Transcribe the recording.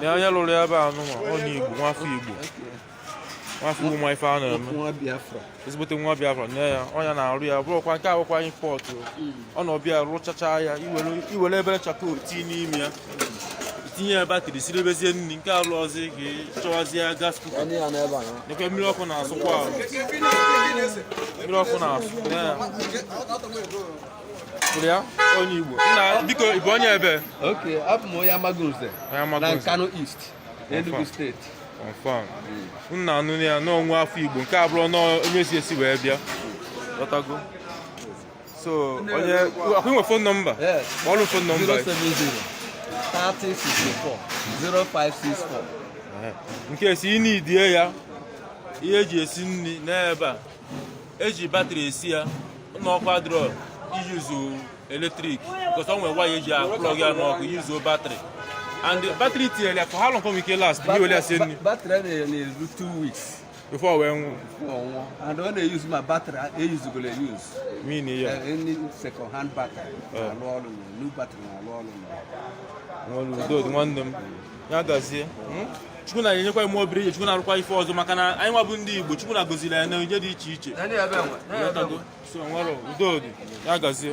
na onye lụrụ ya ebe a nụnwa onye Igbo nwafọ Igbo nwafọ ụmụ ife a na-eme ezigbote nwa Biafra nye ya onye na-arụ ya bụrụkwa nke awụkwa anyị pọtụ ọ na ọ bịa rụchacha ya i were obere chakoo tii n'ime ya tinye ya batịrị siribezie nri nke alụ ọzọ ka ị chọwazie gas kuka nekwa mmiri ọkụ na-asụkwa ahụ mmiri ọkụ na-asụ ya onye Igbo nna biko ị bụ onye ebe ole abụ m onye Amagunze na Nkanu East Enugu steeti confam nna a nụ ya n'ọ nwa afọ Igbo nke a abụrọ onye si esi wee bịa lọtago so onye a kwụ nwe fon nọmba kpọọlụ fon nọmba 070 3064 0564 in case ị needie ya ihe e ji esi nri n'ebe a e ji batrị esi ya na ọkụ adịrọ iyuzu eletrik bikos ọ nwere waya e ji aplọg ya n'ọkụ yuzuo batrị and batrị tinyere ya for how long ike last ihe ole ase nri batrị na-enye na-eru two weeks before wee nwụọ anwụọ and ọ na-eyuzu ma batrị e yuzugoro eyuzu min ya eh, any second hand batrị eh. na-alụ ọrụ new batrị na-alụ ọrụ n'ọrụ udo nwanne m ya gazie hmm? chukwu na-enyekwa ime obere ihe chukwu na-arụkwa ife ọzọ maka na anyị nwa bụ ndị igbo chukwu nna goziri anyị na onyinye dị iche iche udo dị ya gazie